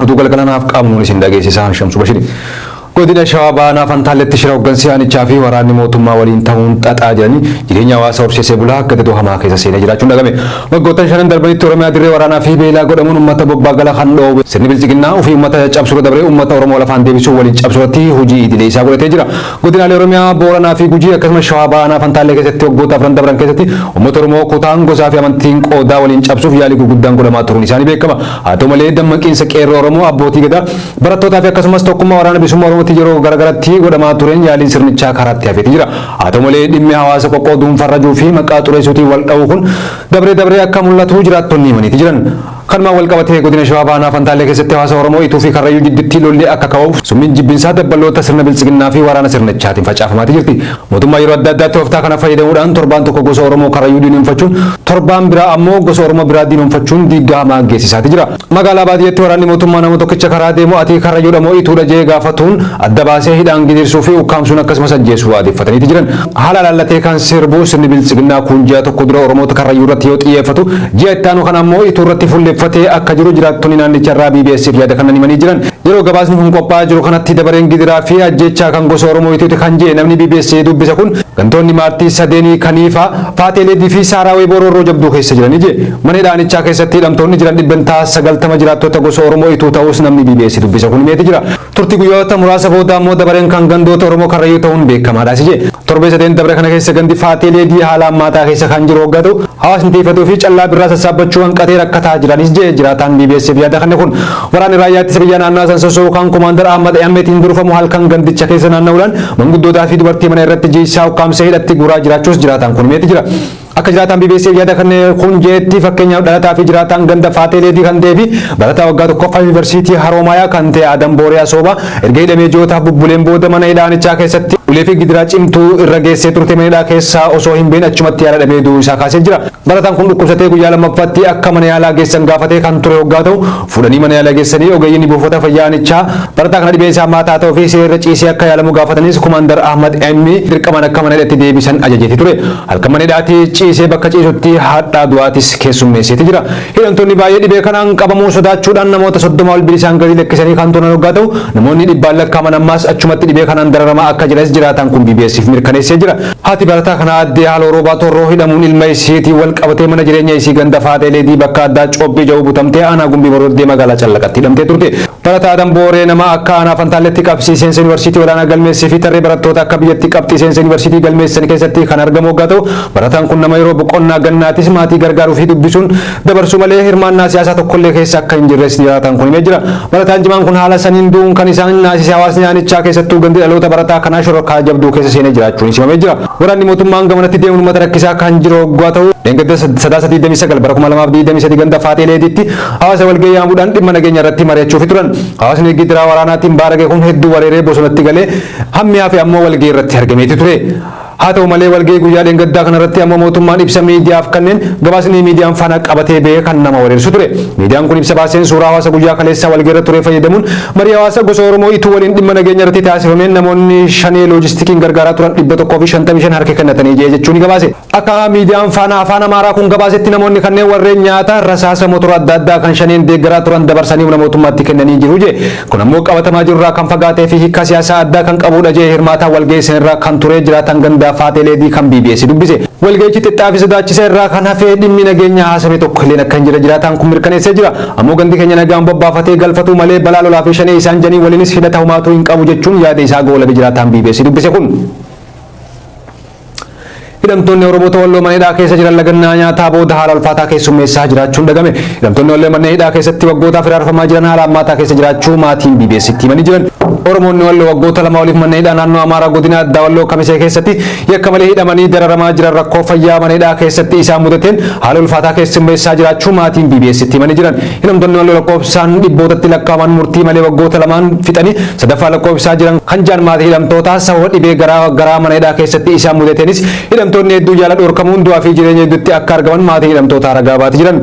Oduu galgala naaf qaabnuun isin dhageessisaa Shamsu Bashiri. Godina Shawaa Baanaa Fantaalletti shira hooggansi aanichaa fi waraanni mootummaa waliin ta'uun xaxaa jiranii jireenya hawaasa horsiisee bulaa gadadoo hamaa keessa seenee jiraachuun dhagame. Waggoottan shanan darbanitti Oromiyaa dirree waraanaa fi beelaa godhamuun uummata bobbaa gala kan dhoowwe sirni bilxiginnaa ofii uummata caccabsuurra dabree uummata Oromoo lafaan deebisuu waliin cabsuurratti hojii idilee isaa godhatee jira. Godinaalee Oromiyaa Booranaa fi Gujii akkasumas Shawaa Baanaa Fantaallee keessatti waggoota afran dabran keessatti uummata Oromoo kutaan gosaa fi amantiin qoodaa waliin cabsuuf yaalii gurguddaan godhamaa turuun isaanii beekama. Haa ta'u malee dammaqiinsa Qeerroo Oromoo, Abbootii Gadaa, Barattootaa fi akkasumas tokkummaa Waraana Bilisummaa Oromootiin yeroo gara garatti godhamaa tureen yaaliin sirnichaa karaatti hafeeti jira. Haa ta'u malee dhimmi hawaasa qoqqooduun farrajuu fi maqaa xureessuutiin wal dhahuu kun dabree dabree akka mul'atu jiraattonni himaniiti jiran. Kanumaan wal qabatee Godina Shawaa Bahaa Aanaa Fantaallee keessatti hawaasa Oromoo Ituu fi Karrayyuu jidduutti lolli akka ka'uuf summiin jibbinsaa dabbaloota sirna Biltsiginnaa fi waraana sirnichaatiin facaafamaati jirti. Mootummaa yeroo adda addaa tooftaa kana fayyadamuudhaan torbaan tokko gosa Oromoo Karrayyuu diinomfachuun torbaan biraa ammoo gosa Oromoo biraa diinomfachuun diiggaa hamaa geessisaati jira. Magaalaa baadiyyatti waraanni mootummaa nama tokkicha karaa deemu ati Karrayyuudha moo Ituudha jee gaafatuun adda baasee hidhaan gidirsuu fi ukkaamsuun akkasumas ajjeesuu aadeffataniiti jiran. Haala laallatee kan sirbu sirni biltsiginnaa kuun ji'a tokko dura Oromoota Karrayyuu irratti yoo xiyyeeffatu ji'a itti aanu kana ammoo Ituu irratti fulleffatee akka jiru jiraattonni naannicharraa BBS'f yaada kannan himanii jiran. Yeroo gabaasni kun qophaa'aa jiru kanatti dabareen gidiraa fi ajjeechaa kan gosa Oromoo Itooti kan je'e namni BBSA dubbise kun gantoonni maartii sadeenii Kaniifaa, Faatee Leedii fi Saaraa Weeboo roorroo jabduu keessa jirani je'e. Mana hidhaa aanichaa keessatti hidhamtoonni jiran dhibbentaa 90 jiraattota gosa Oromoo Ituu ta'uus namni BBS dubbise kun himeeti jira. Turtii guyyoota muraasa booda ammoo dabareen kan gandoota Oromoo Karrayyuu ta'uun beekkamaadhaas je'e. Torbee sadeen dabre kana keessa gandi Faatee Leedii haala hammaataa keessa kan jiru hoggaa ta'u hawaasni tiifatuu fi callaa birraa sassaabbachuu hanqatee rakkataa jiranis je'e jiraataan BBS'f yaada kanne kun. Waraanni raayyaa ittisa biyyaa naannaa san sosso'u kan Komaandar Ahmad Ehammeetiin durfamu halkan gandicha keessa naanna'uudhaan manguddootaa fi dubartii mana irratti jiisaa ukkaamsee hidhatti guuraa jiraachuus jiraataan kun himeeti jira. Akka jiraataan BBCf yaada kan kun jeetti fakkeenyaaf dhalataa fi jiraataan ganda Faatee Leedii kan ta'ee fi barataa waggaa tokkoffaa yuunivarsiitii Haroomayaa kan ta'e Adam Booriyaa Soobaa erga hidhamee ji'ootaaf bubbuleen booda mana hidhaanichaa keessatti ulee fi gidiraa cimtuu irra geessee turte mana hidhaa keessaa osoo hin bahin achumatti yaala dhabee du'uu isaa kaasee jira. Barataan kun dhukkubsatee guyyaa lammaffaatti akka mana yaalaa geessan gaafatee kan ture hoggaa ta'u, fuudhanii mana yaalaa geessanii ogeeyyiin buufata fayyaa aanichaa barataa kana dhibee isaa hammaata haa ta'uu fi siree irra ciisee akka yaalamu gaafatanis Kumaandar Ahmad M dirqamaan akka mana hidhatti deebisan ajajeeti ture. Halkan mana hidhaati ciisee bakka ciisutti hadhaa du'aatis keessummeesseeti jira. Hidhamtoonni baay'ee dhibee kanaan qabamuu sodaachuudhaan namoota soddoma ol bilisaan gadi lakkisanii kan turan hoggaa ta'u, namoonni dhibbaan lakkaaman ammaas achumatti dhibee kanaan dararamaa akka jiranis jiraataan kun BBS'f mirkaneessee jira. Haati barataa kanaa Addee Haaloo Roobaa Torroo hidhamuun ilma ishiitiin wal qabatee mana jireenya isii ganda Faaxee Leedii bakka addaa Coobbii ja'uu butamtee aanaa Gumbii Boroddee magaalaa Callaqatti hidhamtee turte. Barataa Adam Booree nama akka aanaa Fantaalleetti qabxii seensa yunivarsiitii olaanaa galmeessee fi tarree barattoota akka biyyatti qabxii seensa yunivarsiitii galmeessisan keessatti kan argamu oggaa ta'u, barataan kun nama yeroo boqonnaa gannaatis maatii gargaaruu fi dubbisuun, dabarsuu malee hirmaannaa siyaasaa tokkollee keessa akka hin jirres jiraataan kun himee jira. Barataan cimaan kun haala saniin du'uun kan isaan naasise hawaasni aanichaa keessattuu gandi dhaloota barataa kanaa shororkaa jabduu keessa seenee jiraachuunis himamee jira. Waraanni mootummaan gamanatti deemuun uummata rakkisaa kan jiru hoggaa ta'u dheengadda sadaasa 29 bara 2023 ganda Faaxee Leediitti hawaasa walgahii yaamuudhaan dhimma nageenya irratti mari'achuufi turan. Hawaasni gidiraa waraanaatiin baarage kun hedduu wareeree bosonatti galee hammi hafe ammoo walgahii irratti argameeti ture. Haa ta'u malee walga'ii guyyaa dheengaddaa kanarratti ammoo mootummaan ibsa miidiyaaf kanneen gabaasni miidiyaan faana qabatee ba'e kan nama wareersu ture. Miidiyaan kun ibsa baaseen suuraa hawaasa guyyaa kaleessaa walga'iirra ture fayyadamuun marii hawaasa gosa Oromoo ituu waliin dhimma nageenya irratti taasifameen namoonni shanee loojistikiin gargaaraa turan 155 harka kennatanii jee jechuun gabaase. Akka miidiyaan faana afaan Amaaraa kun gabaasetti namoonni kanneen warreen nyaata rasaasa motora adda addaa kan shaneen deeggaraa turan dabarsanii humna mootummaatti kennanii jiru jee. Kun ammoo qabatamaa jiru irraa kan fagaatee fi hiikkaa siyaasaa addaa kan qabuudha je'e hirmaataan walgahii san irra kan ture jiraataan gandaa Faaxee Leedii kan bbs dubbise. Walgahichi xixxaa fi sodaachisa irraa kan hafe dhimmi nageenyaa haasame tokko illeen akka hin jirre jiraataan kun mirkaneessee jira. Ammoo gandi keenya nagaan bobbaafatee galfatuu malee balaa lolaa fi shanee isaan janiin waliinis hidhata homaatuu hin qabu jechuun yaada isaa goolabe jiraataan bbc dubbise kun. Hidhamtoonni Oromoota Walloo mana hidhaa keessa jiran lagannaa nyaataa booda haala ulfaataa keessummeessaa jiraachuun dhagame. Hidhamtoonni Wallee manneen hidhaa keessatti waggootaaf hiraarfamaa jiran haala hammaataa keessa jiraachuu maatiin BBS'tti himanii jiran. Oromoonni Walloo waggoota lama oliif manneen hidhaa naannoo Amaaraa godina addaa Walloo Kamisee keessatti yakka malee hidhamanii dararamaa jiran rakkoo fayyaa mana hidhaa keessatti isaan mudateen haala ulfaataa keessummeessaa jiraachuu maatiin BBS'tti himanii jiran. Hidhamtoonni wal lakkoofsaan dhibbootatti lakkaa'aman murtii malee waggoota lamaan fixanii sadaffaa lakkoofsisaa jiran kan jiran maatii hidhamtootaa sababa dhibee garaa garaa mana hidhaa keessatti isaan mudateenis hidhamtoonni hedduu yaala dhorkamuun du'aa fi jireenya hedduutti akka argaman maatii hidhamtootaa ragaa baati jiran.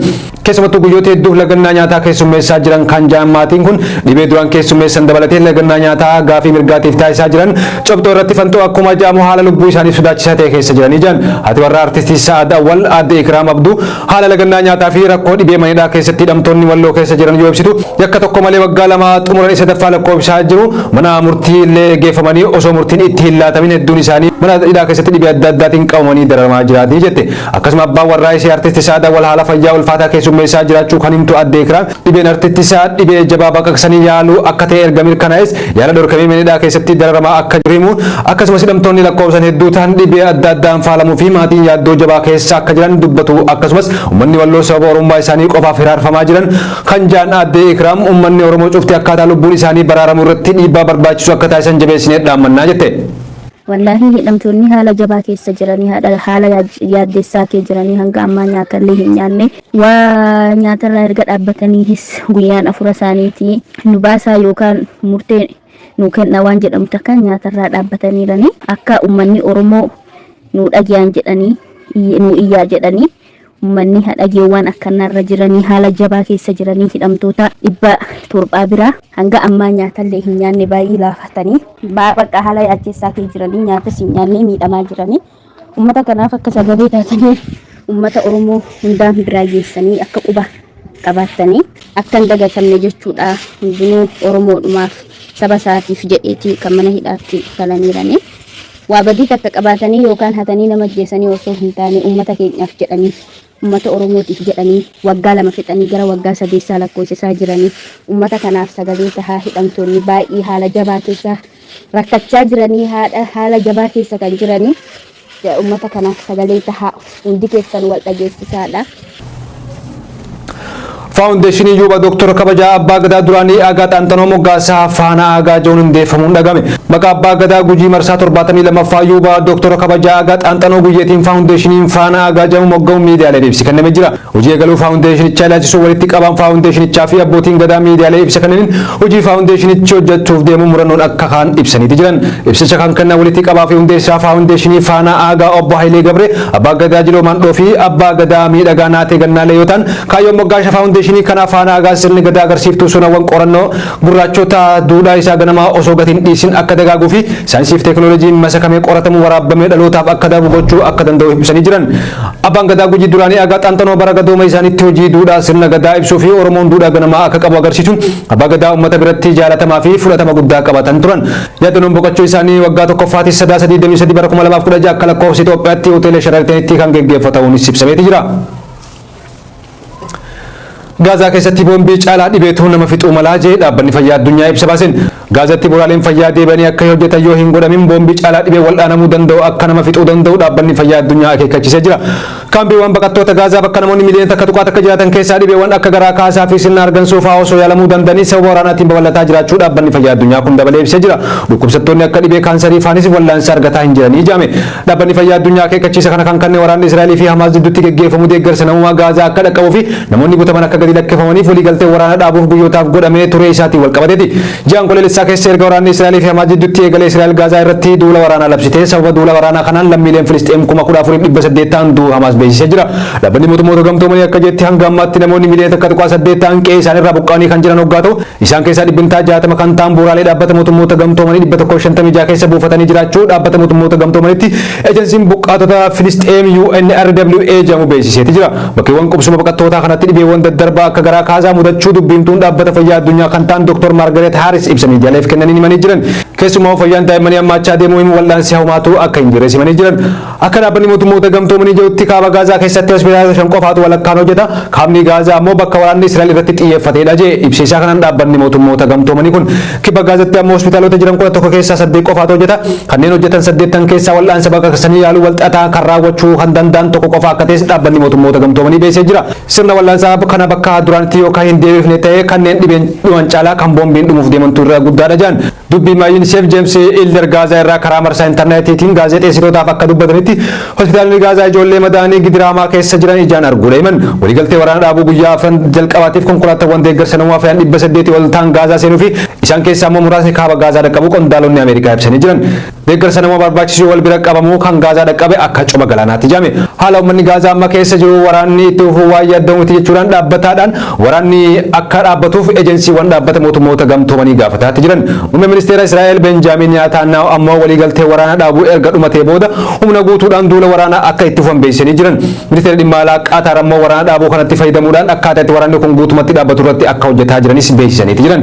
Keessumattuu guyyoota hedduuf lagannaa nyaataa keessummeessaa jiran kan jiran maatiin kun dhibee duraan keessummeessan dabalatee lagannaa nyaataa gaafii mirgaatiif taasisaa jiran cobxoo irratti fanxoo akkuma jaamu haala lubbuu isaaniif sodaachisaa ta'e keessa jiranii jiran. Haati warraa artistii Sa'aad Awwal aadde Ikiraam Abduu Haala lagannaa nyaataa fi rakkoo dhibee mana hidhaa keessatti hidhamtoonni Walloo keessa jiran yoo ibsitu, yakka tokko malee waggaa lama xumuranii sadaffaa lakkoofsisaa jiru. Mana murtii illee geeffamanii osoo murtiin itti hin laatamin hedduun isaanii mana hidhaa keessatti dhibee adda addaatiin qabamanii dararamaa jiraati jette. Akkasuma abbaan warraa isii Artisti Sa'aad Awwal haala fayyaa ulfaataa keessummeessaa jiraachuu kan himtu Aadde Ikiraan, Dhibeen artittisaa dhibee jabaa baqaqsanii yaaluu akka ta'e erga mirkanaa'es yaala dhorkamee mana hidhaa keessatti dararamaa akka jiru himuun, akkasumas hidhamtoonni lakkoofsaan hedduu ta'an dhibee adda addaan faalamuu fi maatiin yaaddoo jabaa keessa akka jiran dubbatu akkasumas ummanni Walloo sababa Oromummaa isaanii qofaaf hiraarfamaa jiran kan ja'an aadde Ikraam ummanni Oromoo cufti akkaataa lubbuun isaanii baraaramu irratti dhiibbaa barbaachisu akka taasisan jabeessinee dhaammannaa jette. Wallaahii hidhamtoonni haala jabaa keessa jiranii haala yaaddeessaa kee jiranii hanga ammaa nyaata illee hin nyaanne Waa nyaatarraa erga dhaabbataniihis guyyaan afura isaaniitii nu baasaa yookaan murtee nuu kennaa waan jedhamu takka nyaatarraa dhaabbataniiranii akka ummanni Oromoo nuu dhage'an jedhanii iyy- nuu iyyaa jedhanii ummanni ha dhage'u waan akkannaarra jiranii haala jabaa keessa jiranii hidhamtoota dhibba torbaa biraa hanga ammaa nyaatallee hin nyaanne baay'ee laafatanii baa- bakka haala yaaddessaa kee jiranii nyaatas hin nyaannee miidhamaa jiranii Uummata kanaaf akka sagalee taatanii uummata Oromoo hundaan biraa geessanii akka quba qabaattanii akka hin dagatamne jechuudha. Hundinuu Oromoodhumaaf saba isaatiif jedheeti kan mana hidhaatti falaniiranii. Waa badii takka qabaatanii yookaan hatanii nama ajjeesanii osoo hin taane uummata keenyaaf jedhanii Ummata Oromootiif jedhanii waggaa lama fixanii gara waggaa sadeessaa lakkoofsisaa jiranii ummata kanaaf sagalee tahaa hidhamtoonni baay'ee haala jabaa keessa rakkachaa jiranii haadha haala jabaa keessa kan jiranii ummata kanaaf sagalee tahaa hundi keessan wal dhageessisaadha. Faawundeeshinii Yuuba Dooktora Kabajaa Abbaa Gadaa Duraanii Aagaa Xaanxanoo Moggaasa Faanaa Aagaa Ja'uun Hundeeffamuun Dhaga'ame. Maqaa Abbaa Gadaa Gujii Marsaa 72ffaa Yuuba Dooktora Kabajaa Aagaa Xaanxanoo Guyyeetiin Faawundeeshiniin Faanaa Aagaa Ja'uun Mogga'uun Miidiyaaleef Ibsi Kenname Jira. Hojii Eegaluu Faawundeeshinichaa Ilaalchisuun Walitti Qabaan Faawundeeshinichaa fi Abbootiin Gadaa Miidiyaaleef Ibsa Kennaniin Hojii Faawundeeshinichi Hojjachuuf Deemu Murannoon Akka Ka'an Ibsaniiti Jiran. Ibsicha Kan Kennan Walitti Qabaa fi Hundeessaa Faawundeeshinii Faanaa Aagaa Obbo Hayilee Gabree, Abbaa Gadaa Jiloo Maandhoo fi Abbaa Gadaa Miidhagaa Naatee Gannaalee Yoo Ta'an, Kaayyoon moggaasha faawundeeshinii kanaa faana agaas sirni Gadaa agarsiiftuu sonawwan qorannoo gurraachota duudhaa isaa ganamaa osoo gati hin dhiisin akka dagaaguu fi saayinsii fi teeknooloojiin masakamee qoratamu waraabbamee dhalootaaf akka darbu gochuu akka danda'u ibsanii jiran. Abbaan Gadaa Gujii duraanii Agaa Xaanxanoo bara gadooma isaaniitti hojii duudhaa sirna Gadaa ibsuu fi Oromoon duudhaa ganamaa akka qabu agarsiisuun Abbaa Gadaa uummata biratti jaalatamaa fi fudhatama guddaa qabatan turan. Yaadanoon boqachuu isaanii waggaa tokkoffaatis Sadaasa 23 bara 2016 akka lakkoofsa Itoophiyaatti Hoteela Sharaatanitti kan geggeeffatauunis ibsameeti jira. Gaazaa keessatti boombii caalaa dhibeetu nama fixuu malaa jee dhaabbanni fayyaa addunyaa ibsa baaseen. Gaazatti buraaleen fayyaa deebi'anii akka hin hojjetan yoo hin godhamin boombii caalaa dhibee wal'aanamuu danda'u akka nama fixuu danda'u dhaabbanni fayyaa addunyaa akeekkachiisee jira. Kaampiiwwan baqattoota Gaazaa bakka namoonni miliyoona takka tuqaa takka jiraatan keessaa dhibeewwan akka garaa kaasaa fi sirna argansuu fa'aa osoo yaalamuu danda'anii sababa waraanaatiin babal'ataa jiraachuu dhaabbanni fayyaa addunyaa kun dabalee ibsee jira. Dhukkubsattoonni akka dhibee kaansarii faanis wal'aansa argataa hin jiranii jedhame. Dhaabbanni Fayyaa Addunyaa akeekkachiisa kana kan kanne waraanni Israa'elii fi Hamaas jidduutti geggeeffamu deeggarsa namoomaa Gaazaa akka dhaqqabuu fi namoonni butaman akka gadi lakkifamaniif waliigaltee waraana dhaabuuf guyyootaaf godhamee turee isaatiin walqabateeti. Ji'a Onkoloolessaa keessa erga waraanni Israa'elii fi Hamaas jidduutti eegalee Israa'el Gaazaa irratti duula waraanaa labsitee sababa duula waraanaa kanaan lammiileen Filisxeem kuma kudha afuriif dhibba saddeet ta'an du'uu Hamaas beeksisee jira. Dhaabbanni Mootummoota Gamtoomanii akka jetti hanga ammaatti namoonni miliyoona takka tuqaa saddeet ta'an qe'ee isaaniirraa buqqa'anii kan jiran hoggaa ta'u Isaan keessaa dhibbentaa 60 kan ta'an bu'uuraalee Dhaabbata Mootummoota Gamtoomanii 156 keessa buufatanii jiraachuu Dhaabbata Mootummoota Gamtoomanitti Ejensiin Buqqaatota Filisxeem UNRWA jedhamu beeksiseeti jira. Bakkeewwan qubsuma baqattootaa kanatti dhibeewwan daddarbaa akka garaa kaasaa mudachuu dubbiimtuun Dhaabbata Fayyaa Addunyaa kan ta'an Dr. Maargareet Haaris ibsa miidiyaaleef kennaniin himanii jiran. Keessumaa fayyaan daa'immanii hammaachaa deemuu himu wal'aansi hawmaatu akka hin jirres himanii jiran. Akka Dhaabbanni Mootummoota Gamtoomanii jedhutti kaaba Gaazaa keessatti hospitaalota shan qofaatu walakkaan hojjeta, kaabni Gaazaa ammoo bakka waraanni Israa'el irratti xiyyeeffatedha jedhe. Ibsa isaa kanaan Dhaabbanni Mootummoota Gamtoomanii kun kibba Gaazatti ammoo hospitaalota jiran 11 keessaa saddeet qofaatu hojjeta. Kanneen hojjetan saddeettan keessaa wal'aansa baqaqsanii yaaluu walxaxaa kan raawwachuu kan danda'an tokko qofa akka ta'es Dhaabbanni Mootummoota Gamtoomanii beeksisee jira. Sirna wal'aansaa kana bakka duraanitti yoo kan hin deebifne ta'e kanneen dhibeen dhuman caalaa kan boombiin dhumuuf deemantu irra guddaadha jedhan. Dubbi himaa Yuuniseef Jeems Iilder Gaazaa irraa karaa marsaa intarneetiitiin gaazexeessitootaaf akka dubbatanitti hospitaalonni Gaazaa ijoollee madaa'anii gidiraa hamaa keessa jiran ijaan arguudha himan. Waliigaltee waraana dhaabuu guyyaa afran jalqabaatiif konkolaataawwan deeggarsa namoomaa fe'an 800 ol ta'an Gaazaa seenuu fi isaan keessaa immoo muraasni kaaba Gaazaa dhaqqabuu qondaalonni Ameerikaa ibsanii jiran. Deeggarsa nama barbaachisuu wal bira qabamuu kan Gaazaa dhaqqabe akka coma galaanaatti jedhame. Haala ummanni Gaazaa amma keessa jiru waraanni itti fufuu waan yaadda'u miti jechuudhaan dhaabbataadhaan waraanni akka dhaabbatuuf ejensiiwwan dhaabbata mootummoota gamtoomanii gaafataatti jiran. Muummeen ministeera Israa'el Benjaamiin Niyaataannaahu ammoo waliigaltee waraana dhaabuu erga dhumatee booda humna guutuudhaan duula waraanaa akka itti fufan beeksisanii jiran. Ministeerri dhimma alaa Qaataar ammoo waraana dhaabuu kanatti fayyadamuudhaan akkaataa itti waraanni kun guutumatti dhaabbatu irratti akka hojjetaa jiranis beeksisaniiti jiran.